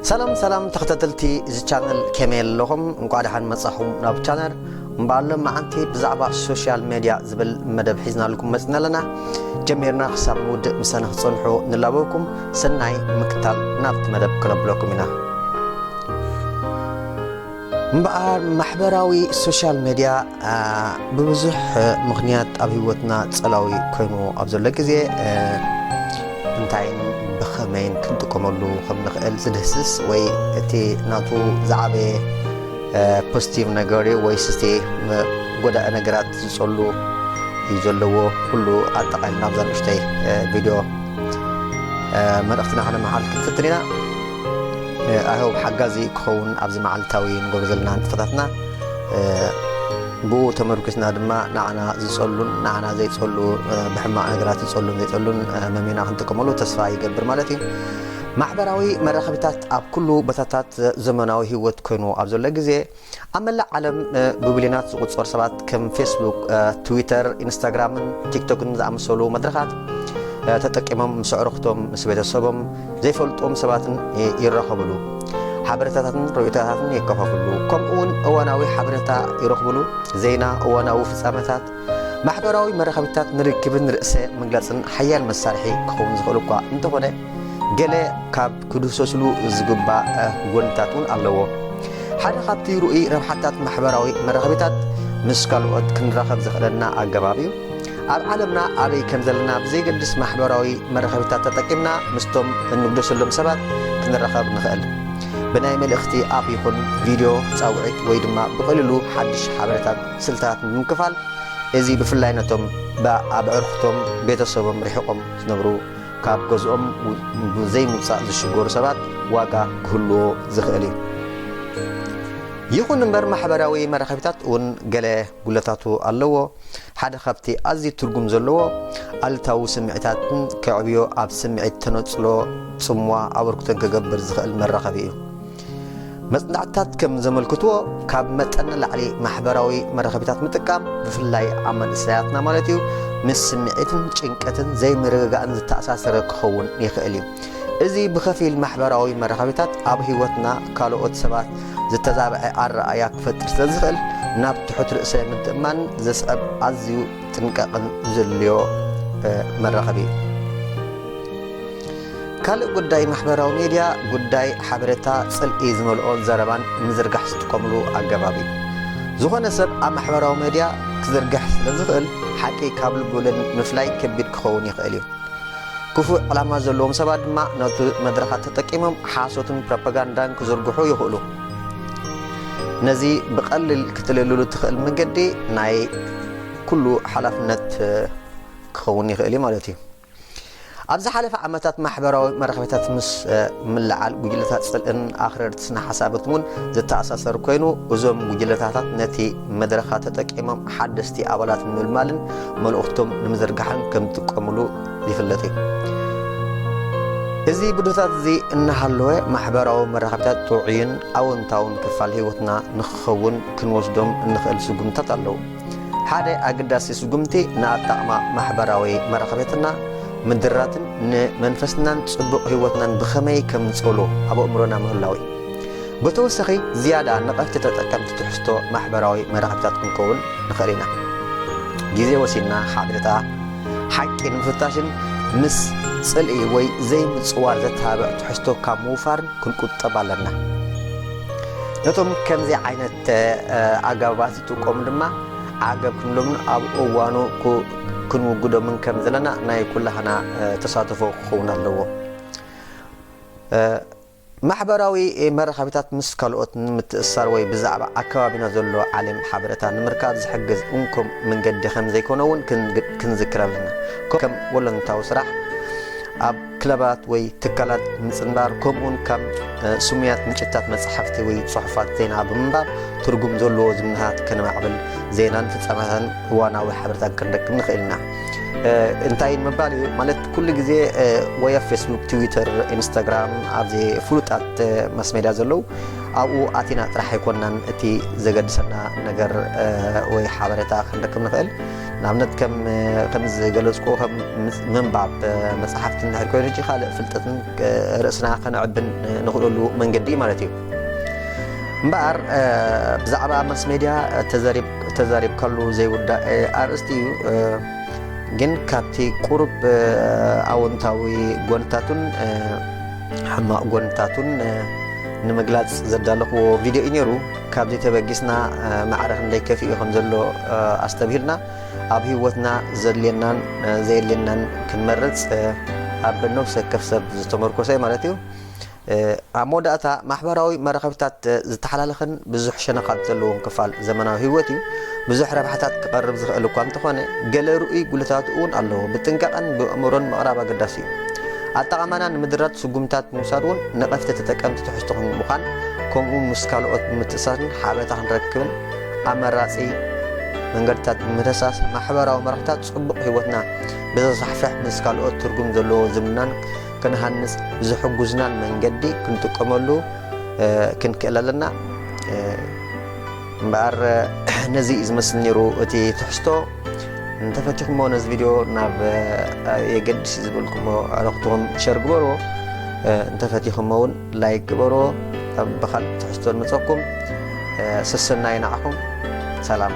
ሰላም ሰላም ተኸታተልቲ እዚ ቻነል ከመይ ኣለኹም እንኳዕ ደሓን መጻኹም ናብ ቻነል እምበኣር ሎማዓንቲ ብዛዕባ ሶሻል ሜድያ ዝብል መደብ ሒዝናልኩም መፅና ኣለና ጀሚርና ክሳብ ንውድእ ምሳና ክፀንሑ ንላበኩም ሰናይ ምክታል ናብቲ መደብ ክነብለኩም ኢና እምበኣር ማሕበራዊ ሶሻል ሜድያ ብብዙሕ ምኽንያት ኣብ ህይወትና ጸላዊ ኮይኑ ኣብ ዘሎ ግዜ እንታይን ብኸመይን ክንጥቀመሉ ከም ንኽእል ዝድህስስ ወይ እቲ ናቱ ዝዓበየ ፖዚቲቭ ነገር እዩ ወይስ እቲ ጎዳኢ ነገራት ዝጸሉ እዩ ዘለዎ ኩሉ ኣጠቓሊ ናብዛ ንእሽተይ ቪድዮ መልእኽትና ከነመሓላልፍ ክንፍትን ኢና ኣይ ሆብ ሓጋዚ ክኸውን ኣብዚ መዓልታዊ ንገብሮ ዘለና ንጥፈታትና ብኡ ተመርኲስና ድማ ንዓና ዝጸሉን ንዓና ዘይጸሉ ብሕማቕ ነገራት ዝጸሉን ዘይጸሉን መሚና ክንጥቀመሉ ተስፋ ይገብር ማለት እዩ። ማሕበራዊ መራኸቢታት ኣብ ኩሉ ቦታታት ዘመናዊ ህይወት ኮይኑ ኣብ ዘሎ ግዜ ኣብ መላእ ዓለም ብቢልዮናት ዝቑጸሩ ሰባት ከም ፌስቡክ፣ ትዊተር፣ ኢንስታግራምን ቲክቶክን ዝኣመሰሉ መድረኻት ተጠቂሞም ምስ ኣዕሩኽቶም፣ ምስ ቤተሰቦም፣ ዘይፈልጡዎም ሰባትን ይራኸብሉ። ሓበሬታታትን ርእይቶታትን የከፋፍሉ። ከምኡ'ውን እዋናዊ ሓበሬታ ይረኽብሉ፣ ዜና፣ እዋናዊ ፍጻመታት። ማሕበራዊ መራኸቢታት ንርክብን ርእሰ ምግላጽን ሓያል መሳርሒ ክኸውን ዝኽእል እኳ እንተኾነ ገለ ካብ ክድህሰስሉ ዝግባእ ጎንታት እውን ኣለዎ። ሓደ ካብቲ ርኡይ ረብሓታት ማሕበራዊ መራኸቢታት ምስ ካልኦት ክንራኸብ ዘኽእለና ኣገባብ እዩ። ኣብ ዓለምና ኣበይ ከም ዘለና ብዘይገድስ ማሕበራዊ መራኸቢታት ተጠቂምና ምስቶም እንግደሰሎም ሰባት ክንራኸብ ንኽእል። ብናይ መልእኽቲ ኣፕ ይኹን ቪድዮ ጻውዒት ወይ ድማ ብቐሊሉ ሓድሽ ሓበሬታት ስልታት ንምክፋል እዚ ብፍላይ ነቶም ብኣዕርኽቶም ቤተሰቦም ርሒቖም ዝነብሩ ካብ ገዝኦም ንዘይምውፃእ ዝሽገሩ ሰባት ዋጋ ክህልዎ ዝኽእል እዩ። ይኹን እምበር ማሕበራዊ መራኸቢታት እውን ገለ ጉድለታቱ ኣለዎ። ሓደ ካብቲ ኣዝዩ ትርጉም ዘለዎ ኣሉታዊ ስምዒታትን ከዕብዮ ኣብ ስምዒት ተነፅሎ፣ ፅምዋ፣ ኣበርክቶን ክገብር ዝኽእል መራኸቢ እዩ። መጽናዕትታት ከም ዘመልክትዎ ካብ መጠን ንላዕሊ ማሕበራዊ መራኸቢታት ምጥቃም ብፍላይ ኣብ መንእሰያትና ማለት እዩ ምስ ስምዒትን ጭንቀትን ዘይምርግጋእን ዝተኣሳሰረ ክኸውን ይኽእል እዩ እዚ ብኸፊል ማሕበራዊ መራኸቢታት ኣብ ህይወትና ካልኦት ሰባት ዝተዛብዐ ኣረኣእያ ክፈጥር ስለ ዝኽእል ናብ ትሑት ርእሰ ምትእማን ዘስዕብ ኣዝዩ ጥንቃቕን ዘድልዮ መራኸቢ እዩ ካልእ ጉዳይ ማሕበራዊ ሜድያ ጉዳይ ሓበሬታ ጽልኢ ዝመልኦ ዘረባን ምዝርጋሕ ዝጥቀምሉ ኣገባብ እዩ። ዝኾነ ሰብ ኣብ ማሕበራዊ ሜድያ ክዝርግሕ ስለዝኽእል ሓቂ ካብ ልቢ ወለድ ምፍላይ ከቢድ ክኸውን ይኽእል እዩ። ክፉእ ዕላማ ዘለዎም ሰባት ድማ ነቲ መድረኻት ተጠቂሞም ሓሶትን ፕሮፓጋንዳን ክዝርግሑ ይኽእሉ። ነዚ ብቐሊል ክትልልሉ እትኽእል መንገዲ ናይ ኩሉ ሓላፍነት ክኸውን ይኽእል እዩ ማለት እዩ። ኣብ ዝሓለፈ ዓመታት ማሕበራዊ መራኸቢታት ምስ ምልዓል ጉጅለታት ጽልእን ኣኽረርቲ ስነ-ሓሳብን እውን ዝተኣሳሰር ኮይኑ፣ እዞም ጉጅለታታት ነቲ መድረኻት ተጠቂሞም ሓደስቲ ኣባላት ንምልማልን መልእኽቶም ንምዝርጋሕን ከምዝጥቀሙሉ ዝፍለጥ እዩ። እዚ ብድሆታት እዚ እናሃለወ፣ ማሕበራዊ መራኸቢታት ጥዑይን ኣወንታውን ክፋል ህይወትና ንኽኸውን ክንወስዶም እንኽእል ስጉምትታት ኣለዉ። ሓደ ኣገዳሲ ስጉምቲ ንኣጣቕማ ማሕበራዊ መራኸቤትና ምድራትን ንመንፈስናን ጽቡቕ ህይወትናን ብኸመይ ከም ንጽእሎ ኣብ ኣእምሮና ምህላው እዩ። ብተወሳኺ ዝያዳ ነቐፍቲ ተጠቀምቲ ትሕዝቶ ማሕበራዊ መራኸቢታት ክንከውን ንኽእል ኢና። ግዜ ወሲድና ሓበሬታ ሓቂ ንምፍታሽን ምስ ጽልኢ ወይ ዘይምጽዋር ዘተባብዕ ትሕዝቶ ካብ ምውፋርን ክንቁጠብ ኣለና። ነቶም ከምዚ ዓይነት ኣገባባት ትቆም ድማ ዓገብ ክንብሎምን ኣብ እዋኑ ክንውግዶምን ከም ዘለና ናይ ኩላህና ተሳትፎ ክኸውን ኣለዎ። ማሕበራዊ መራኸቢታት ምስ ካልኦት ንምትእስሳር ወይ ብዛዕባ ኣከባቢና ዘሎ ዓሌም ሓበሬታ ንምርካብ ዝሕግዝ እንኮ መንገዲ ከም ዘይኮነ እውን ክንዝክር ኣለና። ከም ወለንታዊ ስራሕ ኣብ ክለባት ወይ ትካላት ምጽንባር ከምኡውን ካብ ስሙያት ምንጭታት መጻሕፍቲ ወይ ጽሑፋት ዜና ብምንባብ ትርጉም ዘለዎ ዝምድናታት ከነማዕብል ዜናን ፍጻመታትን እዋናዊ ሓበሬታን ክንረክብ ንኽእል ኢና። እንታይ ምባል እዩ ማለት ኩሉ ግዜ ወይ ኣብ ፌስቡክ፣ ትዊተር፣ ኢንስታግራም ኣብዚ ፍሉጣት ማስ ሜድያ ዘለዉ ኣብኡ ኣቲና ጥራሕ ኣይኮናን እቲ ዘገድሰና ነገር ወይ ሓበሬታ ክንረክብ ንኽእል ንኣብነት ከምዚ ዝገለፅኩ ከም ምንባብ መፅሓፍቲ እንድሕር ኮይኑ ሕጂ ካልእ ፍልጠትን ርእስና ከነዕብን ንኽእለሉ መንገዲ ማለት እዩ እምበኣር ብዛዕባ ማስ ሜድያ ተዛሪብካሉ ዘይውዳእ ኣርእስቲ እዩ ግን ካብቲ ቁሩብ ኣወንታዊ ጎንታቱን ሕማቕ ጎንታቱን ንምግላፅ ዘዳለኽዎ ቪድዮ እዩ ነይሩ ካብዚ ተበጊስና ማዕረ ክንደይ ከፊኡ ከም ዘሎ ኣስተብሂልና ኣብ ህይወትና ዘድልየናን ዘየድልየናን ክንመርጽ ኣብ ነፍሲ ወከፍ ሰብ ዝተመርኮሰ ማለት እዩ ኣብ መወዳእታ ማሕበራዊ መራኸቢታት ዝተሓላለኸን ብዙሕ ሸነኻት ዘለዎም ክፋል ዘመናዊ ህይወት እዩ ብዙሕ ረብሓታት ክቐርብ ዝኽእል እኳ እንተኾነ ገለ ርኡይ ጉልታቱ እውን ኣለዎ ብጥንቃቐን ብእምሮን ምቕራብ ኣገዳሲ እዩ ኣጠቓቕማና ንምድራት ስጉምትታት ብምውሳድ እውን ነቐፍቲ ተጠቀምቲ ትሕዝቶ ክንምዃን ከምኡ እውን ምስ ካልኦት ብምትእስሳርን ሓበሬታ ክንረክብን ኣመራፂ መንገድታት ብምድህሳስ ማሕበራዊ መራሕታት ፅቡቕ ህይወትና ብዘስፋሕፍሕ ምስ ካልኦት ትርጉም ዘለዎ ዝምናን ክንሃንፅ ብዝሕጉዝናን መንገዲ ክንጥቀመሉ ክንክእል ኣለና እምበኣር ነዚ እዩ ዝመስል ነይሩ እቲ ትሕዝቶ እንተፈቲኹሞ ነዚ ቪድዮ ናብ የገድስ ዝበልኩሞ ኣረክትኹም ሸር ግበርዎ እንተፈቲኹሞ እውን ላይክ ግበርዎ ኣብ ብካልእ ትሕዝቶ ንመፀኩም ሰሰናይ ንዓኹም ሰላም